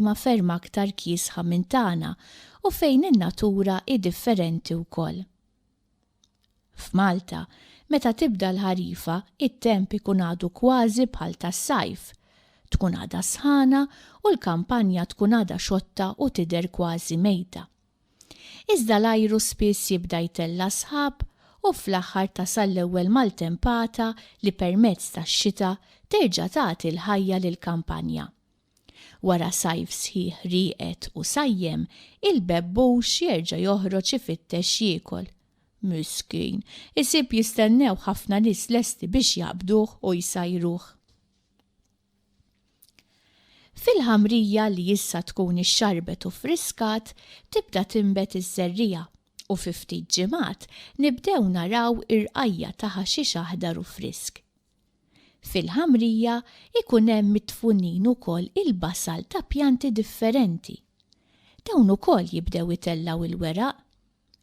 imma ferm aktar kiesħa minn tagħna u fejn in-natura hi differenti wkoll. F'Malta, meta tibda l-ħarifa, it-temp ikun għadu kważi bħal tas-sajf. Tkun għadha sħana u l-kampanja tkun għadha xotta u tidher kważi mejta. Iżda l-ajru spiss jibda jtella' sħab u fl-aħħar tasal l-ewwel maltempata li permezz tax-xita terġa' tagħti l-ħajja lill-kampanja. Wara sajf sħiħ rieqed u sajjem, il-bebbux jerġa' joħroġ ifittex x'jiekol. Miskin, isib jistennewh ħafna nies lesti biex jaqbduh u jsajruh. Fil-ħamrija li issa tkun ixxarbet u ffriskat, tibda tinbet iż-żerriegħa u fi ftit ġimgħat nibdew naraw irqajja' ta' ħaxix aħdar u frisk. Fil-ħamrija jkun hemm midfunin ukoll il-basal ta' pjanti differenti. Dawn ukoll jibdew itellgħu il-weraq.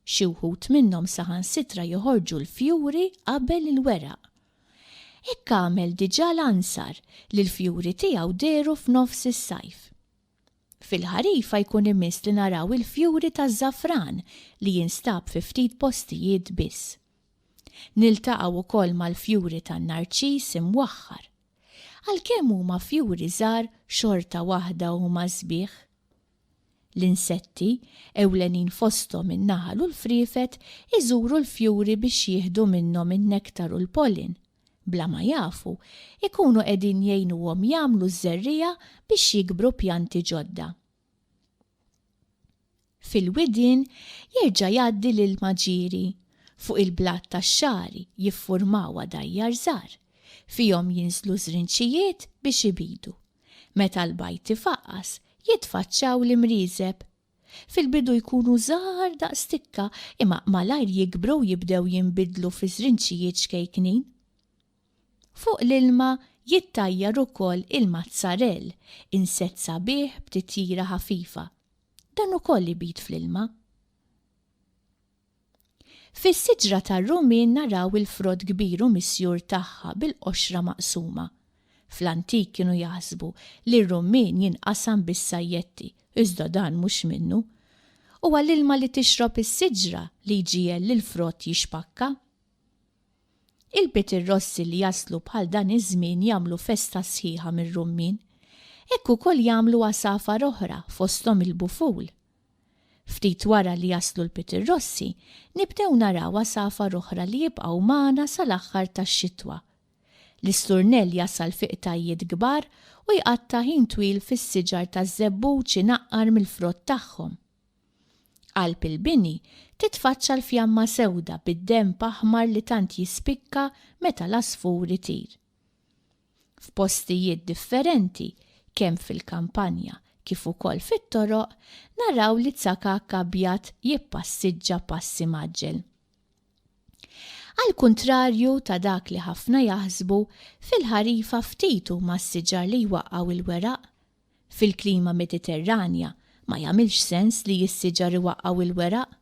Xi wħud minnhom saħansitra joħorġu l-fjuri qabel il-weraq. Hekk għamel diġà l-ansar li l-fjuri tiegħu dehru f'nofs is-sajf. Fil-ħarifa jkun imiss li naraw il-fjuri taż-żafran li jinstab fi ftit postijiet biss. Niltaqgħu wkoll mal-fjuri tan-narċis imwaħħar. Għalkemm huma fjuri żgħar xorta waħda huma sbieħ. L-insetti, ewlenin fosthom in-naħal u l-friefet, iżuru l-fjuri biex jieħdu minnhom in-nektar u l-pollen bla ma jafu, ikunu qegħdin jgħinuhom jagħmlu ż-żerriegħa biex jikbru pjanti ġodda. Fil-widien jerġa' jgħaddi l-ilma ġieri, fuq il-blat tax-xagħri jiffurmaw għadajjar żgħar, fihom jinżlu żrinċijiet biex ibidu. Meta l-bajd ifaqqas, jitfaċċaw l-imrieżeb Fil-bidu jkunu żgħar daqs tikka imma malajr jikbru u jibdew jinbidlu fi żrinċijiet xkejknin. Fuq l-ilma jittajjar ukoll il-mazzarell, insett sabiħ b'titjira ħafifa. Dan ukoll ibid fl-ilma. Fis-siġra tar-Rumin naraw il-frott kbir u misjur tagħha bil-qoxra maqsuma. Fl-antik kienu jaħsbu li r-rummin jinqasam bis-sajjetti, iżda dan mhux minnu. Huwa l-ilma li tixrob is-siġra li jġiegħel lill-frott jixpakka. Il-Bitirrossi li jaslu bħal dan iż-żmien jagħmlu festa sħiħa mir-rummin. Hekk ukoll jagħmlu għasafar oħra, fosthom il-buful. Ftit wara li jaslu l-pitirrossi, nibdew naraw għasafar oħra li jibqgħu magħna sal-aħħar tax-xitwa. L-isturnell jasal fi qtajjiet kbar u jqatta' ħin twil fis-siġar taż-żebbuġ inaqqar mill-frott tagħhom. Qalb il-bini titfaċċa l-fjamma sewda bid-denb aħmar li tant jispikka meta l-għasfur itir. F'postijiet differenti, kemm fil-kampanja kif ukoll fit-toroq, naraw li tsakakk abjad jippassiġġa pass imgħaġġel. Għall-kuntrarju ta' dak li ħafna jaħsbu, fil-ħarifa ftit huma s-siġar li jwaqqgħu l-weraq Fil-klima Mediterranja ma jagħmilx sens li s-siġar iwaqqgħu l-weraq.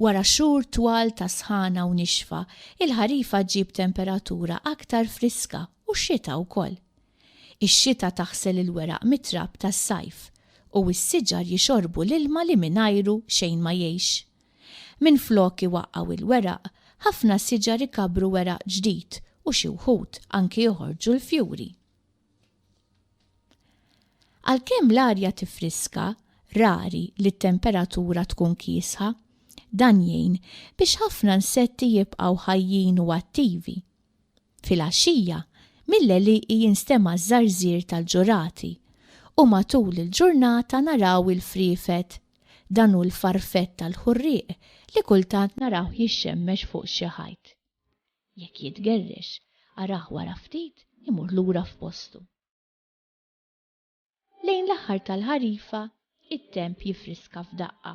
Wara xhur twal ta' sħana u nixfa, il-ħarifa ġġib temperatura aktar friska u x-xita wkoll. Ix-xita taħsel il-weraq mit-trab tas-sajf u s-siġar jixorbu l-ilma li mingħajru xejn ma jgħix. Minflok iwaqqgħu l-weraq, ħafna siġar ikabbru weraq ġdid u xi wħud anki joħorġu l-fjuri. Għalkemm l-arja tiffriska, rari li t-temperatura tkun kiesħa. Dan jgħin biex ħafna nsetti jibqgħu ħajjin u attivi. Filgħaxija, mill-għelieqi jinstema' ż-żarżir tal-ġurati u matul il-ġurnata naraw il-friefet, dan hu l-farfett tal-ħurrieq li kultant narawh jixxemmex fuq xi ħajt. Jekk jitgerrex, arah wara ftit imur lura f'postu. Lejn l-aħħar tal-ħarifa, it-temp jifriska f'daqqa.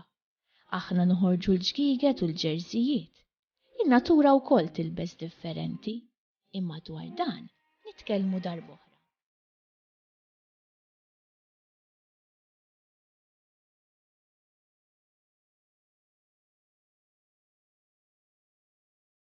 Aħna noħorġu l-ġgiged u l-ġerżijiet. In-natura wkoll tilbes differenti. Imma dwar dan nitkellmu darb'oħra.